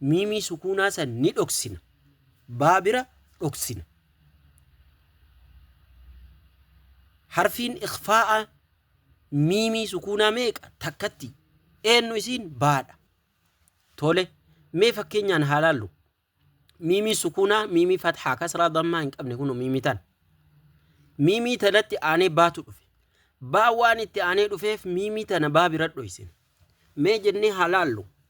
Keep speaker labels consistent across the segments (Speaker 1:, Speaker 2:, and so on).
Speaker 1: Miimii sukuunaa san ni dhoksina. Baa bira dhoksina. Harfiin ikhfaa'aa miimii sukuunaa meeqa? Takkatti. Eennu isiin? Baadha. Tole, mee fakkeenyaan haa laallu. Miimii sukuunaa, miimii fathaa, kasraa, dammaa hin qabne kunoo miimii tan. Miimii tanatti aanee baatu dhufe. Baa waan itti aanee dhufeef miimii tana baa bira dhoysina. Mee jennee haa laallu.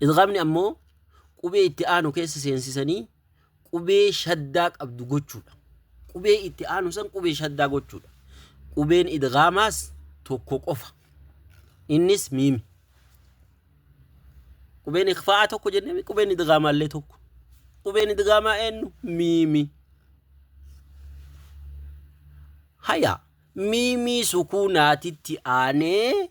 Speaker 1: Idghaamni ammoo qubee itti aanu keessa seensisanii qubee shaddaa qabdu gochuudha. Qubee itti aanu san qubee shaddaa gochuudha. Qubeen idghaamaas tokko qofa. Innis miimi. Qubeen ikfaa'aa tokko jennee qubeen idghaamaa illee tokko. Qubeen idghaamaa eenyu? Miimi. Haya miimii sukuunaatitti aanee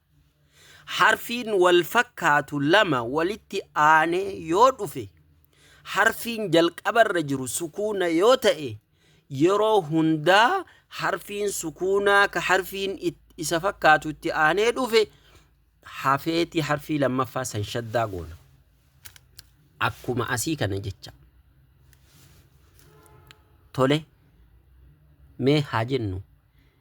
Speaker 1: Harfiin wal fakkaatu lama walitti aanee yoo dhufe harfiin jalqabarra jiru sukuuna yoo ta'e yeroo hundaa harfiin sukuunaa ka harfiin it- isa fakkaatu itti aanee dhufe hafeeti harfii lammaffaa san shaddaa goona. Akkuma asii kana jecha. Tole mee haa jennu.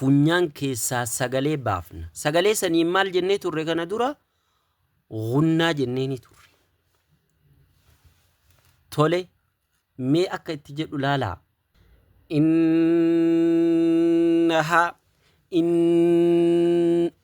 Speaker 1: funyaan keessaa sagalee baafna. Sagalee saniin maal jennee turre kana dura? Gunnaa jennee ni turre. Tole, mee akka itti jedhu laalaa. Innahaa, in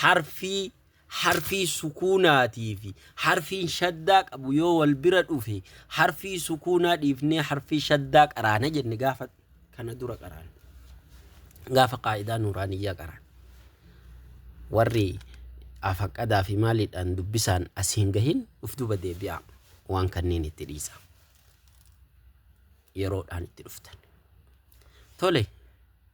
Speaker 1: Harfii harfii sukuunaatii fi harfiin shaddaa qabu yoo wal bira dhufe harfii sukuunaa dhiifnee harfii shaddaa qaraana jenne gaafa kana dura qaraan. Gaafa qaa'idaa nuuraaniyyaa qaraan. Warri afaqadaa fi maaliidhaan dubbisaan as hin gahin uf duba deebi'aa waan kanneen itti dhiisa. Yeroodhaan itti dhuftan. Tole.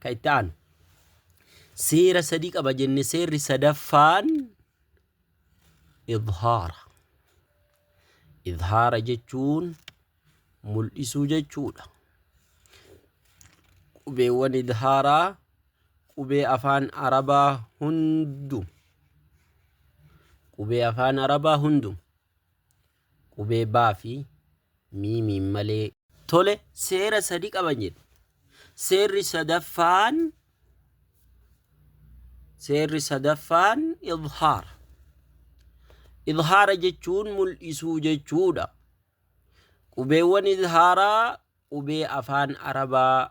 Speaker 1: Kan itti aanu. Seera sadii qaba jenne seerri sadaffaan idhaara. Idhaara jechuun mul'isuu jechuudha. Qubeewwan idhaaraa qubee afaan arabaa hundu qubee afaan arabaa hundu Qubee baa fi miimiin malee. Tole, seera sadi qaban jedhe. Seerri sadaffaan seerri sadaffaan idhaara. Idhaara jechuun mul'isuu jechuudha. Qubeewwan idhaaraa qubee afaan Arabaa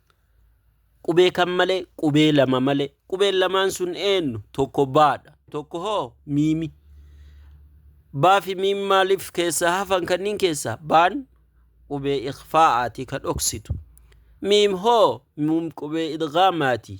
Speaker 1: Qubee kam malee? Qubee lama malee. Qubeen lamaan sun eenyu? Tokko baadha. Tokko hoo miimi. Baa fi miim maaliif keessaa hafan kanniin keessaa? Baan qubee ikhfaa'aati ka dhoksitu. Miim hoo miim qubee idgaamaati.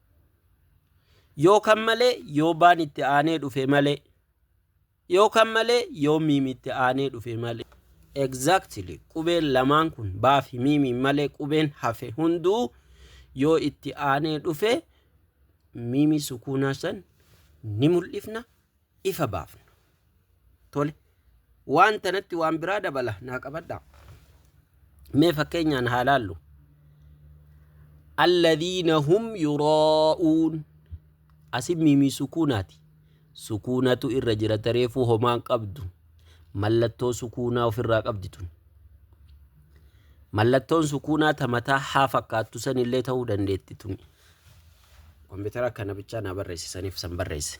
Speaker 1: Yoo kan malee yoo baan itti aanee dhufe malee. Yoo kan malee yoo miim itti aanee dhufe malee. Exactly qubeen lamaan kun baa fi miimiin malee qubeen hafe hunduu yoo itti aanee dhufe miimii sukuunaa san ni mul'ifna. ifa baafna. Tole, waan tanatti waan biraa dabala naa qabadhaa. Mee fakkeenyaan haa laallu. Alladhiina hum yuraa'uun asin miimii sukuunaati. Sukuunatu irra jira tareefuu homaan qabdu. Mallattoo sukuunaa ofirraa qabdi tun. Mallattoon sukuunaa ta mataa haa fakkaattu sanillee ta'uu dandeetti tun. Kompiitara kana bichaa naa barreessisaniif san barreesse.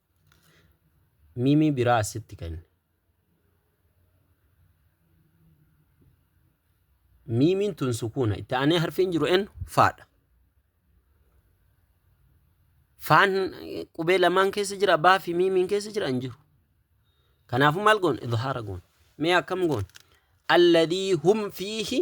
Speaker 1: Mimi biraa assitti kenni. Miimiin tun sukuuna. Itti aanee harfiin jiru eenyu? Faadha. Faan qubee lamaan keessa jira. Baa fi miimiin keessa jira hin jiru. Kanaafuu maal goon? Idhaara goon. Mee akkam goon? Alladhii hum fiihi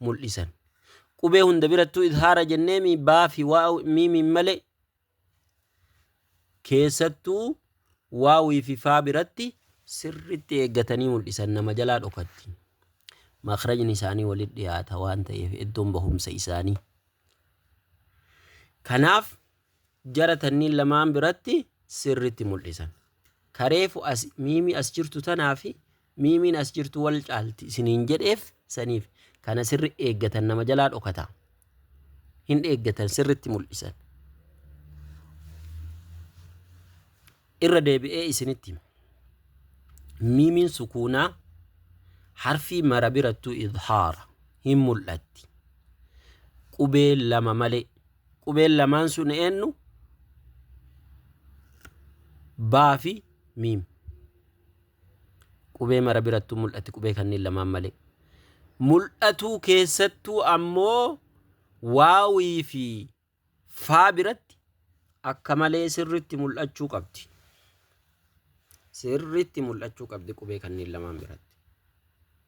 Speaker 1: mul'isan. Qubee hunda birattuu idhaara jenneemi baa fi waaw miimiin malee keessattuu waawii fi faa biratti sirritti eeggatanii mul'isan nama jalaa dhokatti. Makrajni isaanii walitti dhiyaata waan ta'eef iddoon bahumsa isaanii. Kanaaf jara tanniin lamaan biratti sirritti mul'isan. Ka reefu as, miimii as jirtu tanaa fi miimiin as jirtu wal caalti isiniin jedheef saniif kana sirri eeggatan nama jalaa dhokata. Hin eeggatan sirritti mul'isan. Irra deebi'ee isinitti hima. Miimiin sukuunaa harfii mara birattuu idhaara hin mul'atti. Qubee lama malee. Qubeen lamaan sun eennu? Baa fi miim. Qubee mara birattuu mul'atti qubee kanneen lamaan malee. Mul'atuu keessattuu ammoo waawii fi faa biratti akka malee sirritti mul'achuu qabdi. Sirritti mul'achuu qabdi qubee kanneen lamaan biratti.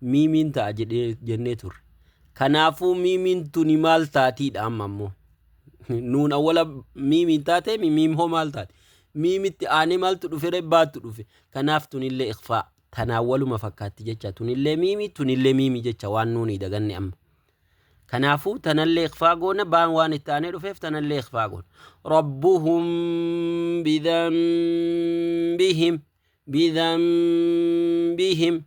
Speaker 1: miimiin ta'a jedhee jennee turre. Kanaafuu miimiin tuni maal taatiidha amma ammoo? Nuun awwala miimiin taatee mi miim hoo maal taate? Miimitti aanee maaltu dhufe ree baatu dhufe. Kanaaf tunillee ikfaa tanaa waluma fakkaatti jecha tunillee miimi tunillee miimi jecha waan nuuni daganne amma. Kanaafuu tanallee ikfaa goona baan waan itti aanee dhufeef tanallee ikfaa goona. Rabbuhum bidhanbihim bidhanbihim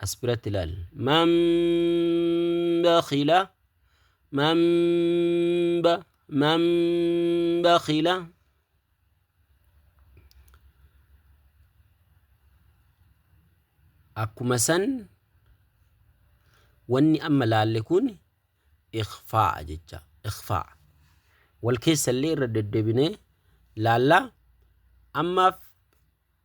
Speaker 1: as biratti laal man bakhila man ba man bakhila akkuma san wanni amma laalle kun ikhfaa jecha ikhfaa wal keessallee irra deddebinee laallaa ammaaf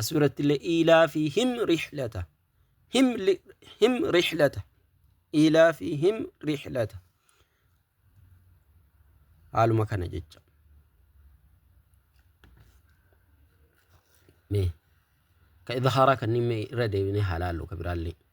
Speaker 1: Asirratti illee iilaa fi him rihlata. Him, li- him rihlata. Iilaa fi him rihlata. Haaluma kana jecha. Mee ka idhaaraa kanneen mee irra deebinee haa laallu ka biraallee.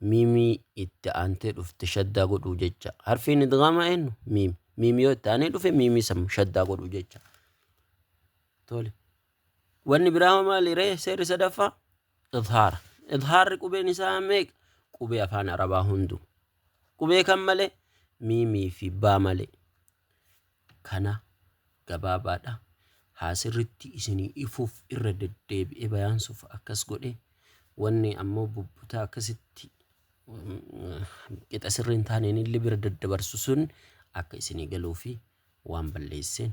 Speaker 1: miimii itti aantee dhufte shaddaa godhuu jecha. Harfiin idgaamaa eenyu? Miim. Miim yoo itti aanee dhufe miimii san shaddaa godhuu jecha. Tole. Wanni biraa maali ree seerri sadaffaa? Idhaara. Idhaarri qubeen isaa meeqa? Qubee afaan Arabaa hundu. Qubee kan malee? Miimii fi baa malee. Kana gabaabaadha haa sirritti isinii ifuuf irra deddeebi'ee bayaansuuf akkas godhe wanni ammoo bubbutaa akkasitti qixa sirrii hin taaneen illee bira daddabarsu sun akka isinii galuufi waan balleesseen